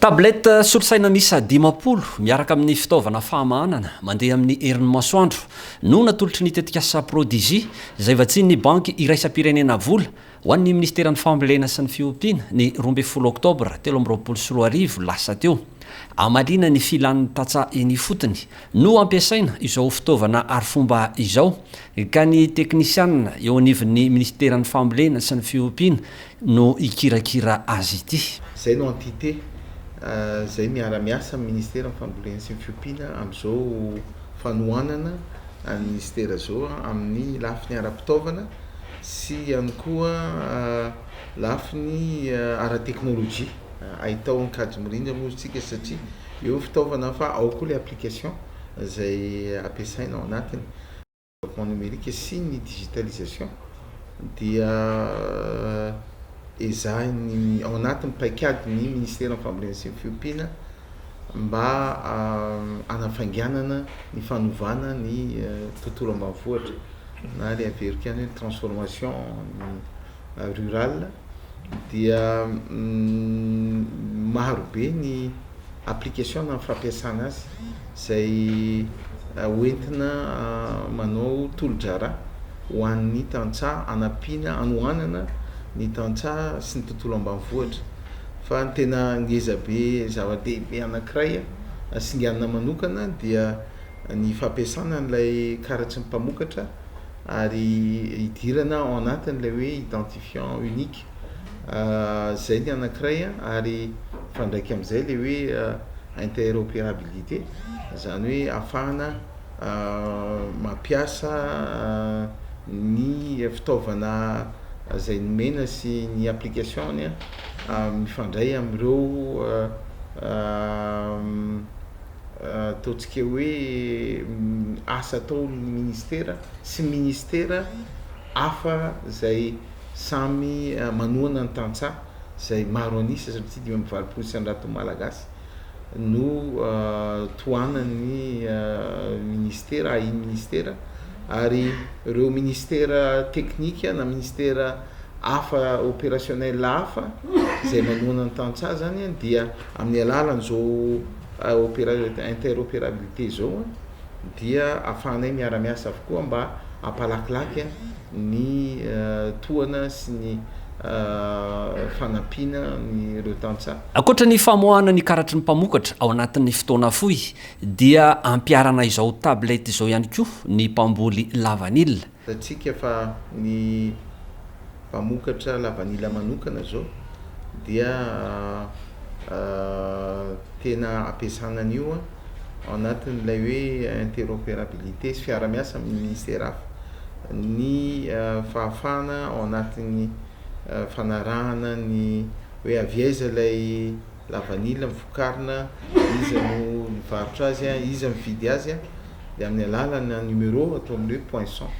Tablette solosaina miisa dimampolo miaraka amin'ny fitaovana fahamahanana mandeha amin'ny herin'ny masoandro no natolotry ny tetikasa Prodigy izay vatsian'ny Banky iraisam-pirenena vola Ho an'ny Minisiteran'ny Fambolena sy ny Fiompiana, ny roa ambin'ny folo Oktobra telo amby roapolo sy roa arivo lasa teo, hamaliana ny filan'ny tantsaha eny ifotony, no hampiasaina izao fitaovana arifomba izao, ka ny teknisianina eo anivon'ny Minisiteran'ny Fambolena sy ny Fiompiana no hikirakira azy ity. Izay no entité izay miara-miasa amin'ny Minisiteran'ny Fambolena sy ny Fiompiana amin'izao fanohanana an'i Minisitera izao amin'ny lafiny ara-pitaovana, sy ihany koa lafiny ara-teknolojia. Ahitao an-kajy mirindra moa isika satria eo ny fitaovana fa ao koa ilay application izay ampiasaina ao anatiny. Développement numérique sy ny digitalisation dia ezahin'ny, ao anatin'ny paikadin'ny Ministeran'ny Fambolena sy ny Fiompiana. mba hanafainganana ny fanovana ny tontolo ambanivohitra na le averiko ihany hoe transformation rural dia maro be ny application na fampiasana azy zay hoentina manao tolodraharaha ho an'ny tantsaha hanampiana hanohanana ny tantsaha sy ny tontolo ambanivohitra. Fa ny tena ngeza be zava-dehibe anankiray hasinganina manokana dia ny fampiasana an'ilay karatry ny mpamokatra ary hidirana ao anatin'ilay hoe identifiant unique izay ny anankiray ary mifandraika amin'izay ilay hoe interopérabilité izany hoe ahafahana mampiasa ny fitaovana izay nomena sy ny application-ny a. mifandray amin'ireo ataontsika hoe asa ataon'ny ministera sy ministera hafa izay samy manohana ny tantsaha izay maro an'isa satria dimy amby valopolo isan-jato malagasy no tohanan'ny ministera, ahin'ny ministera ary ireo ministera teknika na ministera. hafa opérationnel hafa izay manohana ny tantsaha zany a dia amin'ny alalan'izao opéra- interopérabilité izao a dia ahafahanay miara-miasa avokoa mba hampalakilaky ny tohana sy ny fanampiana ireo tantsaha. Ankoatra ny famoahana ny karatry ny mpamokatra ao anatin'ny fotoana fohy dia ampiharana izao tablette izao ihany koa ny mpamboly lavanila Hitantsika fa ny mpamokatra lavanila manokana izao dia tena ampiasana an'io ao anatin'ilay hoe interoperabilité sy fiarahamiasa amin'ny ministera hafa ny fahafahana ao anatin'ny fanarahana ny hoe avy aiza ilay lavanila ny vokarina, iza no mivarotra azy, iza mividy azy dia amin'ny alalan'ny numéro atao amin'ny hoe poinçon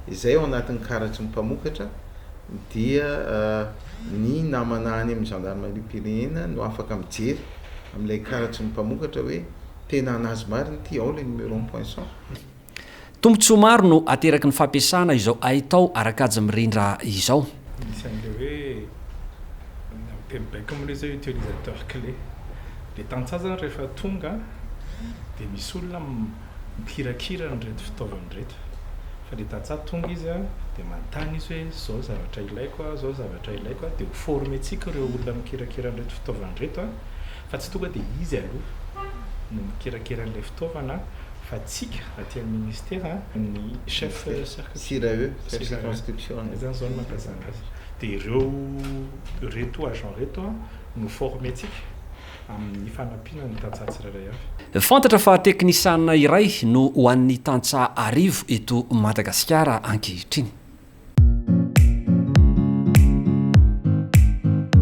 izay ao anatin'ny karatry ny mpamokatra dia ny namana any amin'ny zandarimariam-pirenena no afaka mijery amin'ilay karatry ny mpamokatra hoe tena an'azy marina ity, ao ilay numéro-n'ny poinçon. Tombontsoa maro no ateraky ny fampiasana izao haitao ara-kajy mirindra izao. Anisan'ilay hoe amin'ny teny baiko moa ilay izy hoe utilisateur clé. Dia tantsaha izany rehefa tonga dia misy olona mikirakira an'ireto fitaovana ireto. Fa ilay tantsaha tonga izy dia manontany izy hoe izao ny zavatra ilaiko an, izao ny zavatra ilaiko an. Dia ho former-tsika ireo olona mikirakira an'ireto fitaovana ireto Fa tsy tonga dia izy aloha no mikerakera an'ilay fitaovana fa tsika aty amin'ny ministera ny chef cercle Sirae, chef circonscription. Izany izao no mampazana azy. Dia ireo ireto agents ireto no former-tsika amin'ny fanampiana ny tantsaha tsirairay avy. Fantatra fa teknisiana iray no ho an'ny tantsaha arivo eto Madagasikara ankehitriny.